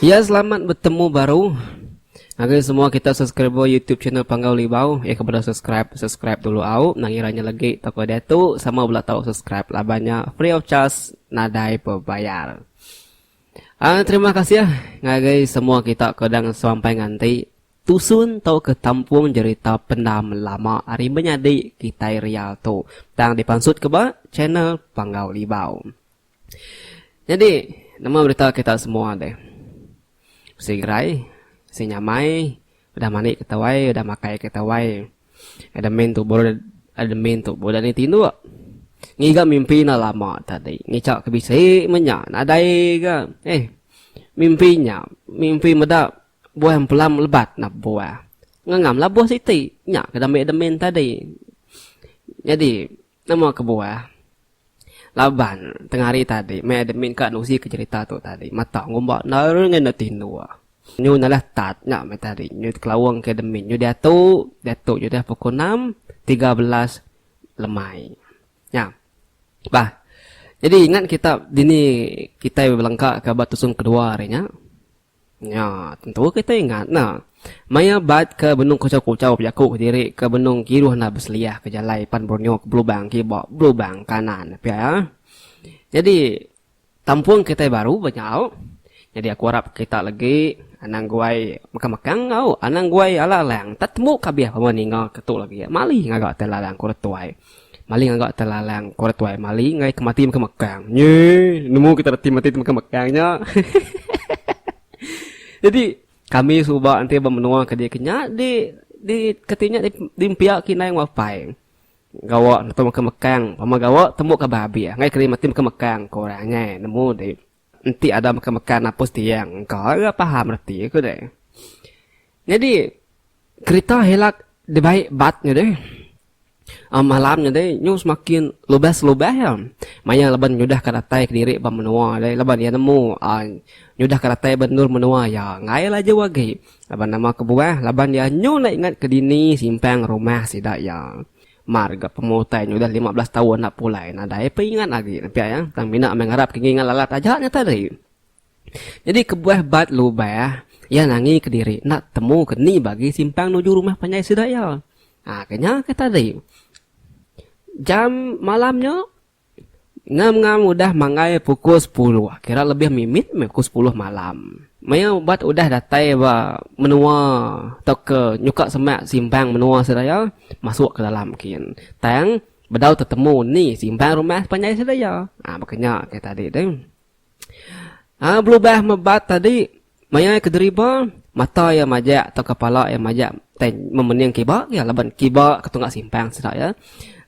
Ya selamat betemu baru ngagai semua kita subscriber YouTube channel Panggau Libau. Eh kepada subscribe, subscribe dulu au. Nangira nya legi toko dia tu sama bela tau subscribe laban nya free of charge nadai bebayar. Ah terima kasih ya ngagai semua kita ke dang sampai nganti. Tusun tauka tampung jerita pendam lama ari menyadi kitai real tu tang dipansutka ba channel Panggau Libau. Nyadi nama berita kita semua deh. Bisi gerai, bisi nyamai, udah mani kita wai, udah makai kita wai. Admin tubuh udah admin tubuh udah ni tinduk. Ngiga mimpi enda lama tadi. Ngicha ke bisi menya nadai ga. Eh. Mimpi nya, mimpi meda Buah empelam lebat nap buah. Ngangam lah buah siti. Nya ke dambik demin tadi. Nyadi nama ke buah. Laban tengah hari tadi mai admin ka nusi ke cerita tu tadi. Mata ngumba nari ngena tinduk. Nyu nalah tat nya mai tadi. Nyu kelaung ke admin. Nyu diatu, diatu nyu dah pukul enam tiga belas lemai. Nya. Bah. Nyadi ingat kita dini kitai belengka ka ba tusung kedua hari nya. Nya, tentu kita ingat enda. Maya bat ke benung kuchau-kuchau bejaku kediri ke benung kiruh enda beseliah ke jalai pan Borneo ke belubang kiba, belubang kanan. Pia. Nyadi, tampung kitai baru ba nyau. Nyadi aku arap kita legi anang guai mekang-mekang enggau anang guai alang-alang. Temu kabih pama ninga ke tu legi. Mali ngaga tai lalang ku retuai. Mali ngaga telalang ko retuai mali enggai ke mati mega mekang. Nyeh nemu kita reti mati mega mekang nya. Jadi kami suba enti ba menua ke diki nya di di keti nya di pia kinai enggau apai. Gawa neto mega mekang pama gawa tembu ka ba abih enggai keri mati mega mekang ko orang ngai nemu di. Enti ada meka meka napus tiang engka ira paham reti ku deh. Nyadi kerita hilak dibai bat nya deh. Um malam nya deh nyu semakin lubas lubas iya. Maya laban nyudah ka datai kediri ba menua deh laban iya nemu um nyudah ka datai ba endur menua iya enggai laju agi laban nama kebuah laban iya nyu enda ingat ke dini simpang rumah sida iya. Mar ga pemua utai nya udah lima belas taun enda pulai nadai pun ingat agi ne pia iya tang mina meh ngarap ke ngingat lalat aja nya tadi. Nyadi kebuah bat lubah iya nangi kediri enda temu ke ni bagi simpang nuju rumah panjai sida iya. Haa ke nya ke tadi. Jam malam nya Ngam-ngam udah manggai pukul sepuluh, kira lebih mimit meh pukul sepuluh malam. Maya ubat udah datai ba menua tauka nyuka semak simbang menua seraya, masuk ke dalam kin. Tang bedau tetemu ni simbang rumah panjai seraya. Baka nya ke tadi tu. Ha, belubah mebat tadi, maya ke deriba, mata ia majak atau kepala ia majak memening kiba, ya, laban kiba ke tunggak simpang sida, ya.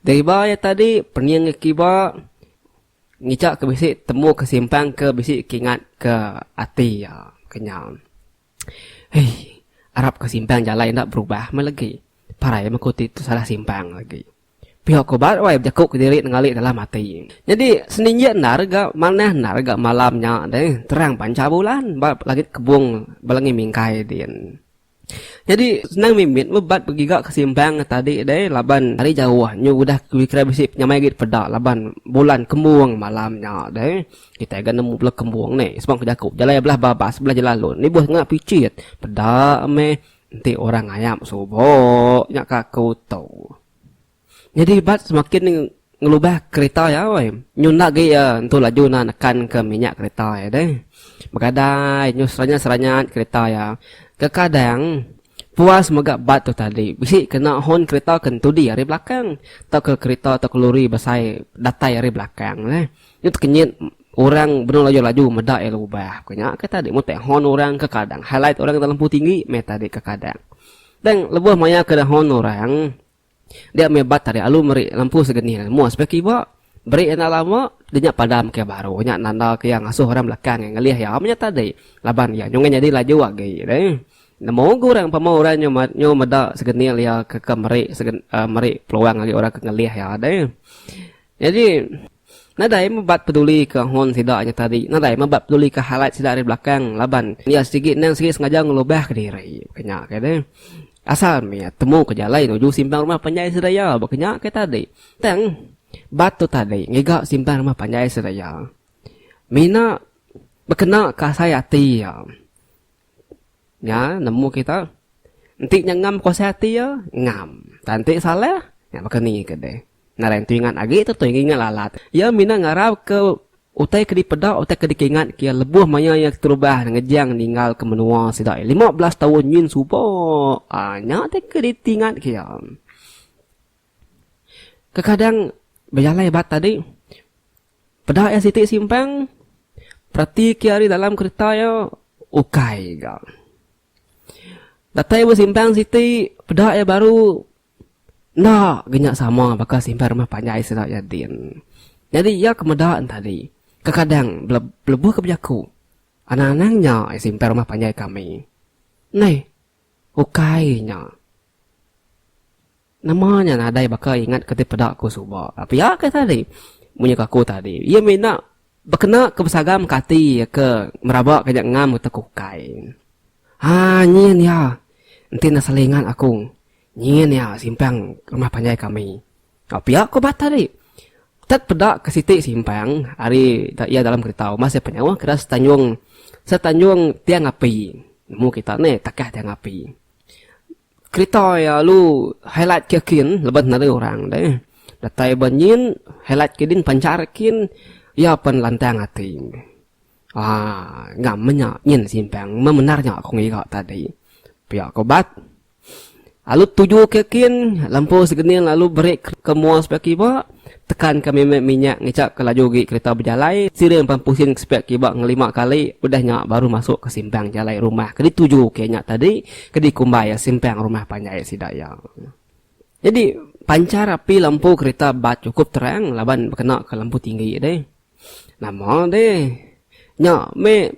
Deriba ia tadi, pening kiba, ngicak ke bisi temu ke simpang ke bisi kingat ke ati ia, kenyau. Hei. Arap ka simpang jalai enda berubah meh legi. Parai meh ku ti tu salah simpang legi. Pihok ku bat wai bejaku kediri nenggali dalam ati. Nyadi seninjik endar ga manah endar ga malam nya deh terang panca bulan ba langit kebong ba langit mingkai din. Nyadi senang mimit meh bat begiga ke simpang ngan tadi deh laban ari jauh nyu udah kira bisi penyamai agi peda laban bulan kembong malam nya deh. Kitai ga nemu bela kembung ne sebang ke jaku jalai belah babas sebelah jalai lun lebuh ngena pichit peda meh enti orang ngayap subo nya ka aku tu. Nyadi bat semakin ngelubah kereta iya weh. Nyu enda agi iya entu laju na nekan ke minyak kereta iya deh. Begadai nyu seranyat-seranyat kereta iya. Kekadang puas mega bat tu tadi bisi kena hon kereta ke entudi ari belakang tauka kereta tauka lori besai datai ari belakang neh. Nya tekenyit orang benung laju-laju meda iya lubah. Bukan nya ke tadi mun tek hon orang ke kadang highlight orang dalam pu tinggi meh tadi ke kadang. Tang lebuh maya ke hon orang dia meh bat tadi alu meri lampu segeni lalu mu aspek kiba beri enda lama dia nya padam ke baru nya nanda ke iya ngasuh orang belakang iya ngelih iya meh nya tadi laban iya nyungui nyadi laju agi deh. Nemu ke orang pama orang nyu nyu meda segeni iya ke ke meri segeni meri peluang agi orang ke ngelih iya deh. Nyadi. Nadai mebat peduli ke hon sida nya tadi, nadai mebat peduli ke highlight sida ari belakang laban iya sigi endang sigi sengaja ngelubah ke diri. Baka nya kai deh. Asal meh temu ke jalai nuju simpang rumah panjai sida iya. Baka nya kai tadi. Tang bat tu tadi ngiga simpang rumah panjai sida iya mina bekena ke asai ati iya. Nya nemu kita enti nya ngam kuasa ati iya, ngam. Tang enti salah, nya baka ni ke deh. Ngarang tu ingat agi tu tu ingat lalat. Iya mina ngarap ke utai ke dipeda utai ke dikingat ke iya lebuh maya iya keterubah ngejang ninggal ke menua sida lima belas taun nyin suba. Aa nya ti ke ditingat ke iya. Kekadang bejalai ba tadi peda iya siti simpang perati ke ari dalam kereta iya ukai ga. Datai ba simpang siti peda iya baru Enda ga nya sama baka simpan rumah panjai sida iya din. Nyadi iya ke meda entadi, kekadang belebuh ke bejaku, Anang-anang nya iya simpan rumah panjai kami. Neh, ukai nya. Nama nya nadai baka ingat ke ti peda aku suba. Pia ke tadi, munyi ke aku tadi, iya mina Bekena ke besagam ke ati ke meraba ke nya ngam ke teku ukai. Haa nyin ya enti enda selingan aku nyin ya simpang rumah panjai kami. Au pia ko Bata ri. Tet peda ke siti simpang ari iya dalam kerita umbas iya penyauh kira setanjung setanjung tiang api. Nemu kita ne takah tiang api. Kerita ya lu highlight ke kin leban nari orang deh. Datai banyin highlight ke din pancar kin ya pan lantang ati. Ah, ngam menya nyin simpang memendar nya aku ngiga tadi. Pia ko bat. Alu tuju ke kin lampu segening lalu beri ke mua sebelah kiba Tekan ka mimit minyak ngicap ka laju gi kerita bejalai siring pan pusin ke sepiak kiba ngelima kali udah nya baru masuk ka simpang jalai rumah ke dituju ke nya tadi ke dikumbai iya simpang rumah panjai sida iya. Nyadi panchar api lampu kerita bat chukup terang laban bekena ka lampu tinggi deh. Nama deh nya meh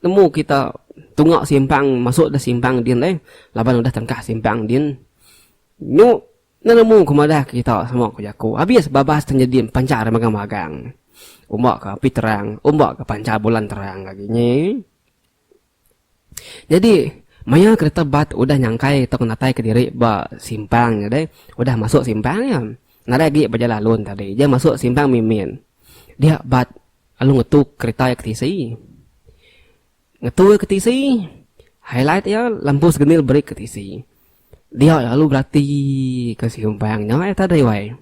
nemu kita tunga simpang masuk da simpang din deh laban udah tengkah simpang din nyu Nemu ke madah ke kita sama ku jaku abis babas tenyedim pancar megang magang. Umba ke api terang, umba ke pancar bulan terang agi nyi. Nyadi maya kereta bat udah nyangkai tau natai ke diri ba simpang nya deh, udah masuk simpang nya. Nadai agi ba jalan alun tadi je masuk simpang mimin. Dia bat lalu ngetu kereta ke tisi. Ngetua ke tisi, highlight iya lembus genil break ke tisi. Dia lalu berati ke simbang nya eh tadi wai.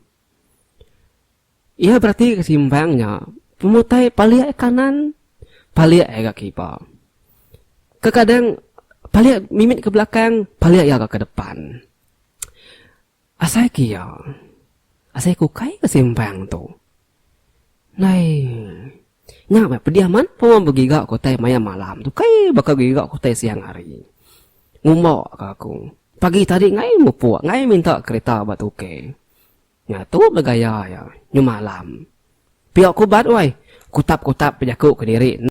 Iya berati ke simbang nya, pemutai palik kanan, palik ga kipa. Kekadang palik mimit ke belakang, palik iya ga ke depan. Asai ke iya, asai ke ukai ke simpang tu. Nai. Nya meh pediah man pemau begiga ke utai maya malam tu kai baka begiga ke utai siang hari. Ngumba ka aku. Pagi tadi ngai mupuk, ngai minta kereta ba tukey. Nya tu meh gaya iya nyemalam. Pia ku ubat uai, kutap-kutap bejaku kediri.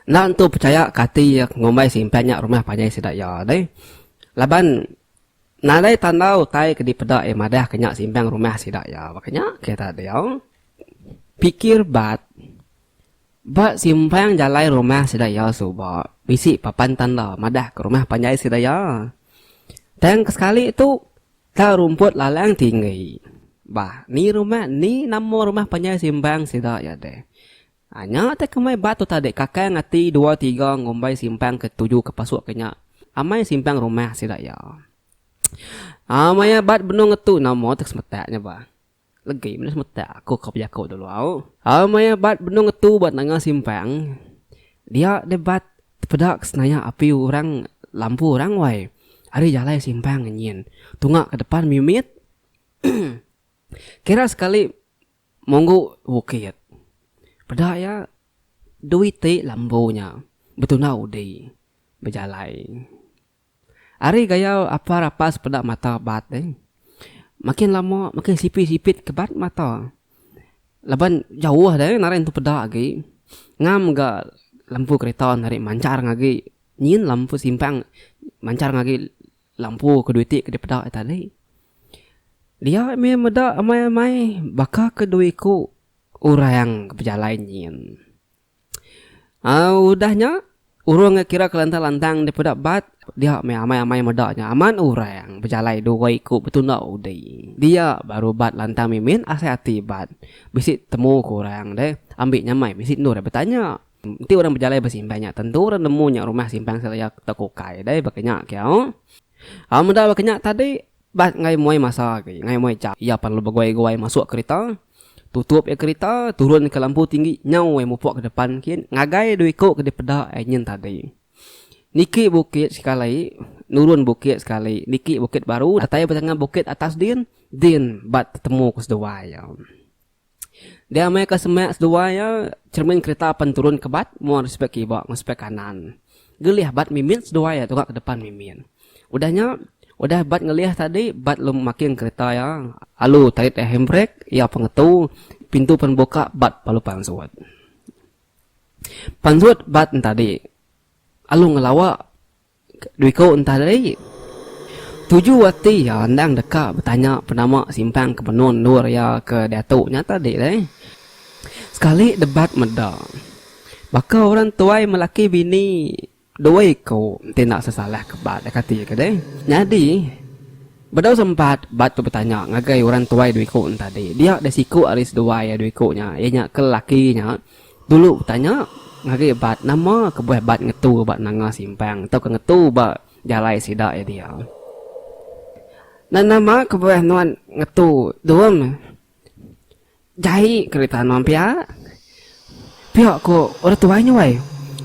Enda entu pechaya ka ati iya ngumbai simpang nya rumah panjai sida iya deh. Laban Nadai tanda utai ke dipeda iya madah ke nya simbang rumah sida iya. Baka nya ke tadi au pikir bat ba simbang jalai rumah sida iya suba bisi papan tanda madah ke rumah panjai sida iya. Tang ke sekali tu tau rumput lalang tinggi. Bah ni rumah ni nama rumah panjai simbang sida iya deh. A Nya te kemai ba tu tadi kakang ati dua tiga ngumbai simpang ke tuju ke pasuk ke nya amai simpang rumah sida iya. A Maya bat benung ngetu nama te ke semetak nya ba. Legi menda semetak aku ka bejaku dulu au. A Maya bat benung ngetu ba tengah simpang dia deh bat tepeda ke senaya api orang lampu orang wai ari jalai simpang nyin tunga ke depan mimit kira sekali Monggu bukit. Peda iya, dua iti lambu nya betunda udi bejalai. Ari gaya apa rapas peda mata bat deh. Makin lama makin sipit-sipit ke bat mata. Laban jauh deh narai entu peda agi. Ngam ga lampu kereta narai manchar ngagi nyin lampu simpang manchar ngagi Lampu ke dua iti ke dipeda iya tadi. Dia mih meda amai-amai baka ke dua iku orang ke bejalai nyin. Aaa udah nya urung ke kira ke lantang-lantang dipeda bat dia mih amai-amai meda nya amat orang bejalai dua iku betunda udi. Dia baru bat lantang mimin asai ati bat bisi temu ke orang deh ambi nyamai bisi endur iya betanya. Enti orang bejalai ba simpan nya tentu orang nemu nya rumah simpan seraya toko ukai deh baka nya kiyau. Au meda baka nya tadi bah enggai muai masa agi enggai muai jam iya perlu beguai-guai masuk kerita, tutup iya kerita, turun ka lampu tinggi nyau ai mupuk ka depan kin ngagai dua iko ke dipeda enyen tadi. Niki bukit sekali nurun bukit sekali niki bukit baru datai ba tengah bukit atas din din ba tetemu ke seduai iya. Dia meh ke semak seduai iya cermin kerita pen turun ke bat mua di spek kiba enggau spek kanan. Gelih bat mimit seduai iya tuka ke depan mimit. Udah nya udah bat ngelih tadi bat lalu makin kerita iya alu tait iya handbrek iya pengetu pintu pen buka bat lalu pansut. Pansut bat nya tadi alu ngelawa Duiko entah lari. Tuju ati iya endang deka betanya penama simpang ke menua endur iya ke diatu nya tadi deh. Sekali debat meda, baka orang tuai melaki bini doi ko enti enda sesalah ke ba deka ti ke deh. Nyadi bedau sempat bat tu betanya ngagai orang tuai Duiko nya tadi. Dia deh siku ari seduai iya Duiko nya iya nya ke laki nya Dulu betanya ngagai bat nama kebuah bat ngetu ba nanga simpang tauka ngetu ba jalai sida iya dia. Nan nama kebuah nuan ngetu dum jai kerita nuan pia? Pia ku orang tuai nya wai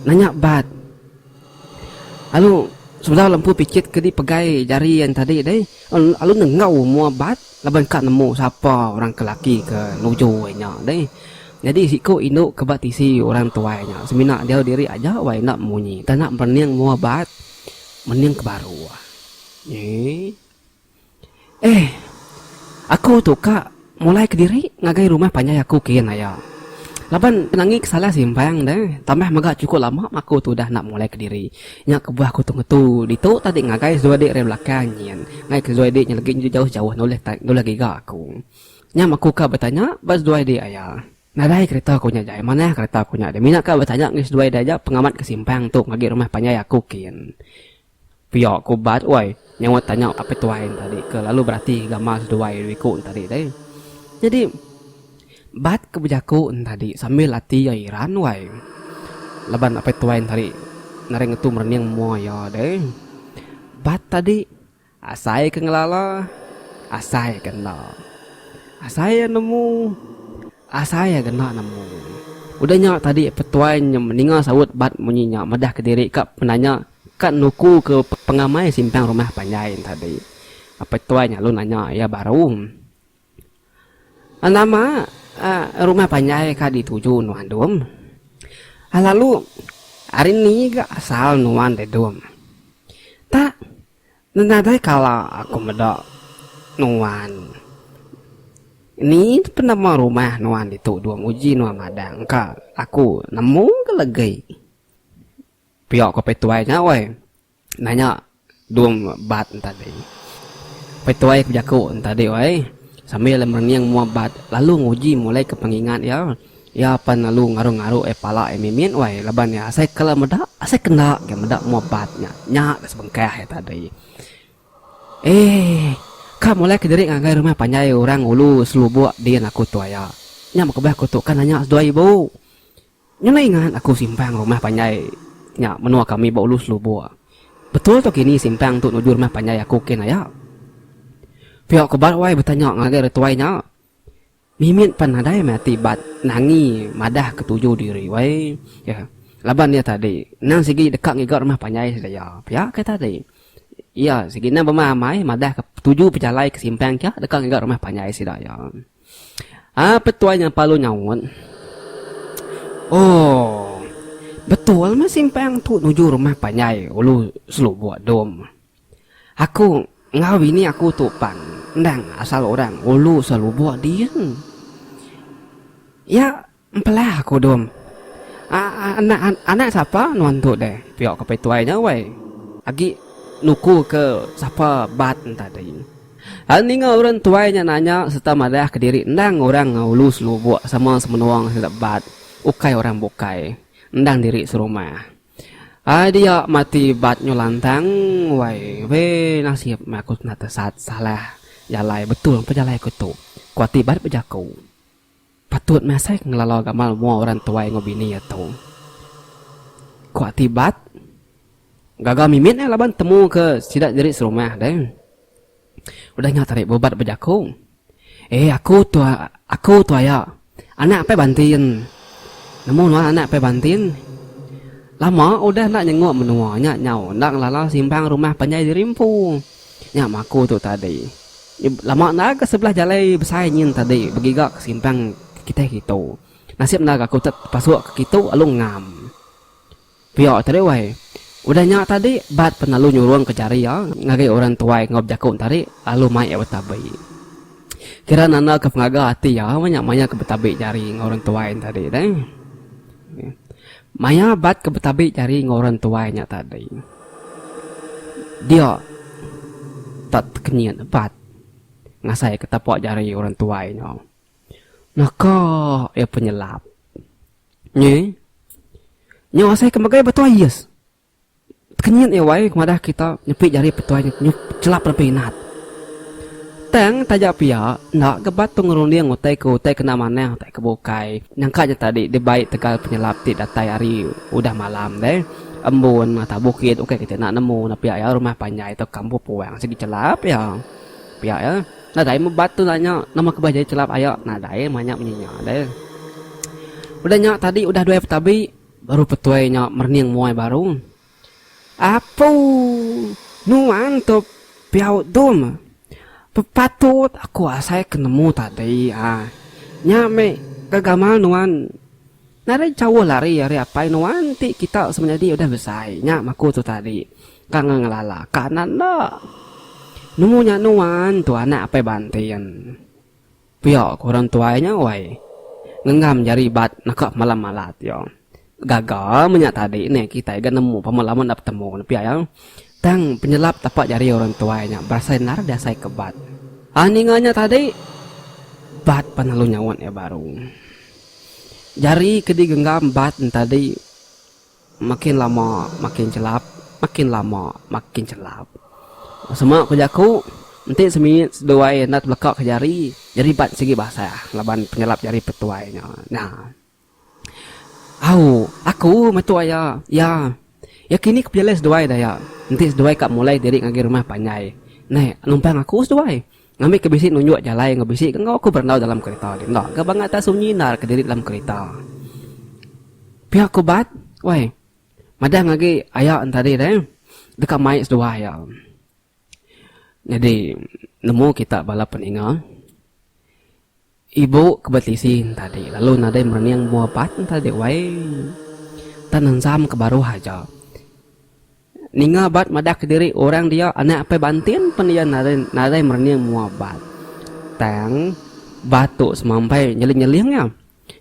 nanya bat. Alu sebedau lempu pichit ke dipegai jari an tadi deh, alu nengau mua bat laban ka nemu sapa orang ke laki ke nuju ai nya deh. Nyadi siku indu ke ba tisi orang tuai nya semina diau diri aja wai enda munyi tana berening mua bat mening ke baru. Eee. Eh. Aku tu ka mulai kediri ngagai rumah panjai aku kian aya. Laban angi ke salah simpang deh tambah mega chukup lama aku tu udah enda mulai kediri. Nya kebuah aku tu ngetu ditu tadi ngagai Zui dik ari belakang nyin. Ngai ke Zui dik nya legi jauh-jauh nulih ta nulih giga aku. Nyam aku ka betanya ba Zui dik aya. Nadai kereta ku nya jai. Manah kereta ku nya deh. Mina ka betanya ngi Zui dik aja pengamat ke simpang tu ngagai rumah panjai aku kian. Pia ku ubat wai nyaut tanya apai tuai enta dih ke lalu berati gambar seduai diri ku enta dih deh. Jadi bat ke bejaku enta dih sambil ati iya iran wai laban apai tuai enta dih nadai ngetu merening mua iya deh. Bat tadi asai ke ngelala asai ke enda. Asai iya nemu asai iya kena nemu. Udah nya tadi apai tuai nyem ninga saut bat munyi nya madah kediri ka penanya Ka nukuka pengamai simpang rumah panjai nya tadi, Apai Tuai nyalun nanya iya baru, Nama rumah panjai ka dituju nuan Dum? Lalu ari ni ga asal nuan deh Dum? Ta nadai kala aku meda nuan. Ni penama rumah nuan ditu Dum uji nuan madah engka aku nemu ga legi. Pia ko Petuai nya woi. Nanya Dum Bat entadi. Petuai ke bejaku entadi woi sambil merening mua Bat lalu nguji mulai ke pengingat iya. Iya pan lalu ngaru-ngaru ai pala iya mimit woi laban iya asai kala meda asai kenda ga meda mua Bat nya. Nya ga sebengkah iya tadi. Eeh. Ka mulai ke diri ngagai rumah panjai orang ulu selubok din aku tu aya. Nya mega beh aku tu ka nanya seduai ibu. Ngena ingat aku simpang rumah panjai nya menua kami ba Ulu Selubur. Betul tu kini simpang tu nuju rumah panjai aku kin aya. Pia ku Bat wai betanya ngagai ari tuai nya. Mimit pan nadai meh ati Bat nangi madah ketuju diri wai iya. Laban iya tadi endang sigi deka ngiga rumah panjai sedia. Pia ke tadi iya sigi endang bemamai madah ketuju pejalai ke simpang kia deka ngiga rumah panjai sida iya. Ah petuai nyang palu nyaut. Oh. Betul meh simpang tu nuju rumah panjai ulu selubuk dom. Aku enggau bini aku tu pan endang asal orang ulu selubuk din. Ya. Empelah aku dom. Anak anak sapa nuan tu deh. Pia ke petuai nya wai. Agi nuku ke sapa bat tadi. Lalu ninga orang tuai nya nanya serta madah ke diri endang orang enggau ulu selubok sama semenua enggau sida bat ukai orang bukai endang diri serumah. Ai dia mati bat nyu lantang wai be nasib meh aku kena tesat salah jalai betul mpa jalai aku tu. Ku ati bat bejaku. Patut meh asai ke ngelala gamal mua orang tuai enggau bini iya tu. Ku ati Bat, gaga mimit nya laban temu ke sida nyeri serumah deh. Udah nya tadi bu Bat bejaku, Eh aku tu aku tu aya anak apai bantin. Nemu nuan anak apai bantin? Lama udah enda nyenguk menua nya nyau enda ngelala simpang rumah panjai diri empu. Nya maku tu tadi. Iya lama enda ke sebelah jalai besai nyin tadi begiga ke simpang Kiteh Gitu. Nasib enda gaku te pasuk ke Gitu alu ngam. Pia tadi wai. Udah nya tadi Bat pen alu nyurung ke jari iya ngagai orang tuai enggau bejaku tadi alu mai iya betabi. Kira nanda ke pengaga ati iya nya maya ke betabi jari enggau orang tuai tadi deh. Maya bat ke betabi jari enggau orang tuai nya tadi. Dia tak tekenyit bat ngasai ke tapak jari orang tuai nya. Naka iya penyelap. Nyi. Nya asai ke megai batu ais. Kenyit iya wai madah kita nyepi jari petuai chelap lebih inat. Tang taja pia enda gebat tu ngerunding utai ke utai kena manah utai ke bukai. Nyangka nya tadi dibai tegal penyelap ti datai hari udah malam deh. Embun atau bukit ukai kitai enda nemu enda pia iya rumah panjai atau kampung puang sigi chelap iya. Pia iya nadai mebat tu nanya nama ke bah jadi chelap aya nadai manya munyi nya deh. Udah nya tadi udah duai petabi Baru petuai nya merening muai baru. Apu! Nuan tu Piau Dum. Bepatut aku asai ke nemu tadi. Nya meh ke gamal nuan. Nadai jauh lari ari apai nuan ti kita semenyadi udah besai nya maku tu tadi. Ka ngelala ka anak enda. Nemu nya nuan tu anak Apai Bantin. Pia ku orang tuai nya wai. Ngenggam jari bat naka pemalam alat iya. Gaga menya tadi neh kitai ga nemu pemalam enda betemu ne pia iya. Tang penyelap tapak jari orang tuai nya berasai endar diasai ke bat. Ai ninga nya tadi bat pan lalu nyaut iya baru. Jari ke digenggam bat nya tadi. Makin lama makin chelap, makin lama makin chelap. Sema ku jaku, enti semiyit seduai enda tebeleka ke jari, jari bat sigi basah laban penyelap jari petuai nya. Nya. Au, aku meh tu aya. Ya. Ya kini ke pejalai seduai daya. Enti seduai ka mulai diri ngagai rumah panjai. Naih, numpang aku seduai. Ngambika bisi nunjuk jalai enggau bisi ke enggau aku berandau dalam kerita ti enda ga bangat tak sunyi endar kediri dalam kerita. Pia ku bat, weh. Madang agi aya entadi deh deka mai seduai iya. Nyadi nemu kita bala peninga Ibu ke betisi entadi lalu nadai merening mua apat entadi wai tan enzam ke baruh aja. Ninga abat madah ke diri orang dia anak apai bantin pen iya nadai merening mua abat. Tang bat tu semampai nyeling-nyeling iya.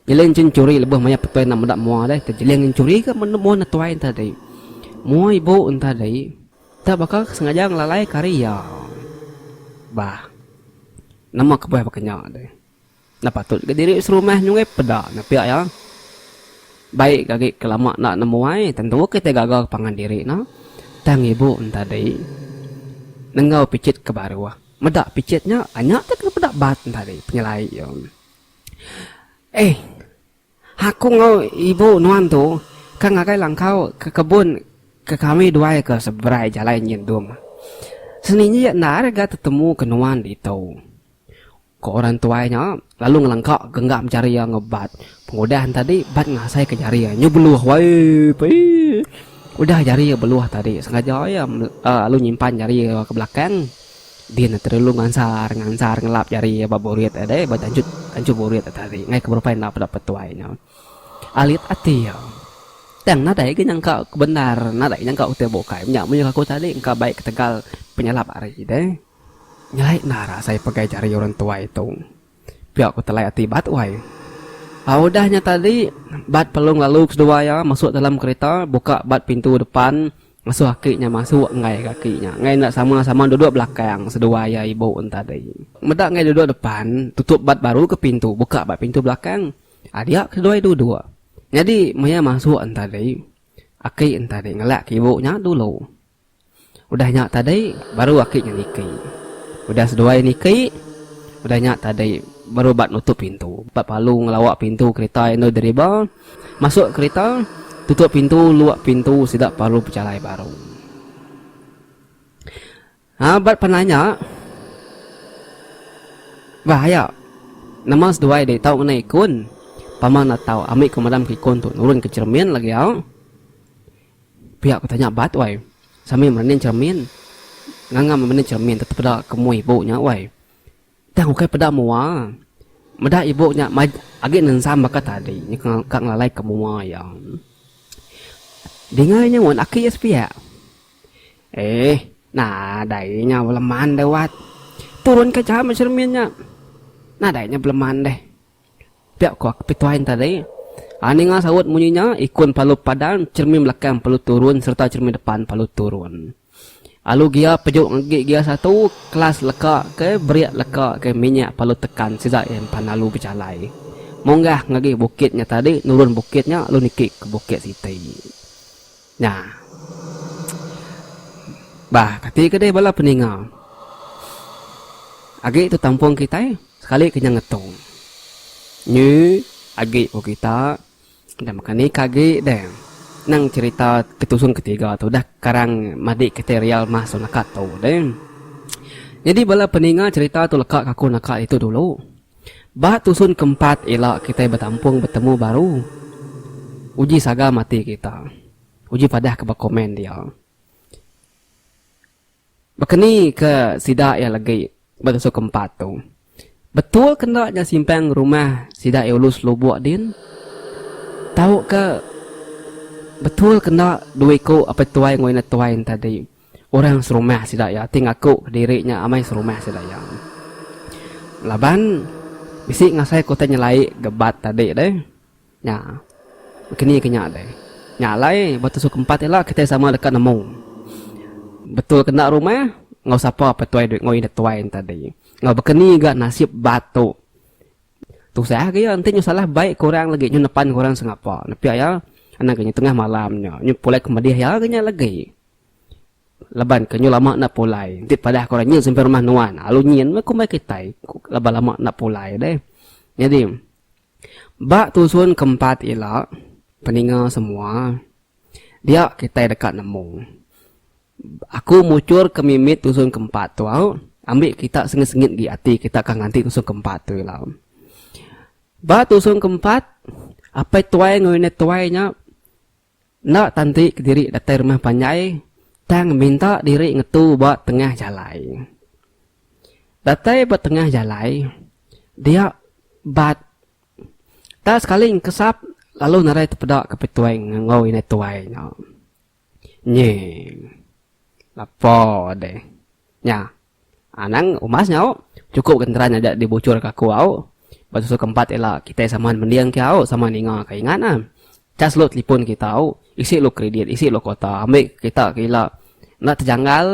Nyeling cin churi lebuh maya petuai enda meda mua deh tejeling nyin churi ke menda mua netuai entadi. Mua ibu entadi enda baka sengaja ngelalai ke ari iya. Bah. Nama kebuah baka nya deh. Enda patut ga diri serumah nyungui peda nya pia iya. Baik ga agi ke lama enda nemu ai tentu kitai gaga ke pangan diri nya. Tang ibu entadi nenggau picit ke baruh. Meda picit nya nya teh kena peda bat entadi penyelai iya. Eih. Aku enggau ibu nuan tu ke ngagai langkau ke kebun ke kami duai ke seberai jalai nyendung. Seninja iya enda rega tetemu ke nuan ditu. Ko orang tuai nya lalu ngelengka genggam jari iya enggau bat. Pengudah enti tadi bat ngasai ke jari iya nyu beluh waip eii. Udah jari iya beluh tadi sengaja iya lalu nyimpan jari iya ke belakang. Din ne terelu ngansar ngansar ngelap jari ba burit e dei ba janjut anchu burit e tadi ngaika berupai enda peda petuai nya. Alit ati iya. Tang nadai ga nyangka bendar nadai ga nyangka utai bukai nya munyi aku tadi engka bai ketegal penyalap ari dei. Nyelai endar asai pegai jari orang tuai tu. Pia ku telai ati Bat wai. Au udah nya tadi, Bat pelung lalu ke seduai iya masuk dalam kerita, buka bat pintu depan, ngasuh aki nya masuk enggai ga aki nya enggai enda sama-sama duduk belakang seduai iya ibu nya tadi. Meda enggai duduk depan, tutup Bat baru ke pintu, buka bat pintu belakang. Adia ke seduai duduk. Nyadi maya masuk nya tadi, aki nya tadi ngelak ke ibu nya dulu. Udah nya tadi baru aki nya niki. Udah seduai niki, udah nya tadi baru ba nutup pintu. Ba palu ngelawa pintu kereta endur deriba, masuk kereta, tutup pintu, luak pintu sida paru bejalai baru. Ha ba pandai nya bah aya nama seduai deh tau ngenai ikun. Pama enda tau ami ke madam ke ikun tu nurun ke cermin lagi au. Pia ku tanya bat wai. Sambil merening cermin. Nganga merening cermin tetap peda ke mui ibu nya wai. Tang ukai peda mua. Meda ibu nya maj agi nensam baka tadi nya ka ngelalai ke mua iya. Dinga inya mun aki iya sepiak. Eeh nadai inya beleman deh wat. Turun ka jauh meh cermin nya. Nadai inya beleman deh. Pia ku Aku Pituhain tadi. A Ninga saut munyi nya, ikun palu padang, chermin belakang palu turun sereta chermin depan palu turun. Alu gia pejuk ngagi gia satu, kelas leka ke berik leka ke minyak palu tekan sida iya empan alu bejalai munggah ngagi bukit nya tadi nurun bukit nya lalu niki ke bukit siti. Nya. Bah kati ke deh bala peninga. Agi tu tampung kitai. Sekali kenyang ngetung. Nyi agi ko kita enda meka ni ka agi deh. Nang cerita ke tusun ke tiga tu dah karang madik kite real mah so naka tu deh. Nyadi bala peninga cerita tu leka ka aku naka ditu dulu. Ba tusun ke empat ila kite betampung betemu baru. Uji saga mati kita. Uji padah ke ba komen dia. Baka ni ke sida iya legi ba tasu ke empat tu, Betul ke enda nya simpang rumah sida Eulus lubuk din? Tauka betul ke enda dua iku apai tuai enggau indah tuai ne tadi orang serumah sida iya ti ngaku diri nya amai serumah sida iya? Laban bisi ngasai ku utai nyelai ga bat tadi deh. Nya. Keni ke nya alai? Nya alai, ba tusuk empat ila kitai sama deka nemu betul ke enda rumah enggau sapa pe tuai dui enggau inda tuai ne tadi. Enggau baka ni ga nasib ba tu. Tusah agi iya enti nyau salah bai ke orang lagi, nyau nepan ke orang sengapa. Nepia iya, anak inya tengah malam nya, nyau pulai ke medih iya agi nya lagi. Laban ke nyau lama enda pulai. Enti padah ke orang nyin sampai rumah nuan, lalu nyin meh kumbai kitai, laban lama enda pulai deh. Nyadi. Ba tusun ke empat ila, peninga semua, dia kitai deka nemu. Aku muchur ke mimit tusun ke empat tu au, ambi kita sengit-sengit agi ati kita ka nganti tusun ke empat tu ila. Ba tusun ke empat, apai tuai enggau indai tuai nya. Enda tanti kediri datai rumah panjai tang minta diri ngetu ba tengah jalai. Datai ba tengah jalai dia bat enda sekali engkesap lalu nadai tepeda ke petuai enggau indai tuai nya. Nyeh. Lapa deh nya. Anang, Umas nya au, chukup genteran aja dibuchur ka aku au. Ba susu keempat ila kitai saman mending ke au sama ninga ka ingat na. Chas lu telipon kita au, isi lu kredit, isi lu kota, ambi ka kita ke ila enda tejanggal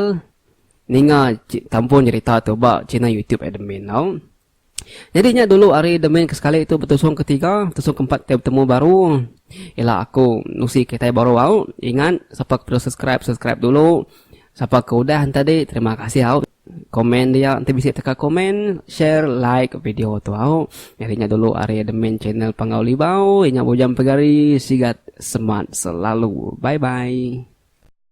ninga tampun jerita tu ba channel youtube admin au. Nyadi nya dulu ari The Main ke sekali tu betusung ke tiga, betusung ke empat ke betemu baru. Ila aku nusi kitai baru au. Ingat sapa ke perlu subscribe, subscribe dulu. Sapa ke udah entadi terima kasih au. Komen dia enti bisi teka komen, share, like video tu au. Nyadi nya dulu ari The Main Channel Panggau Libau. Inya bujang pegari sigat semat selalu. Bye bye.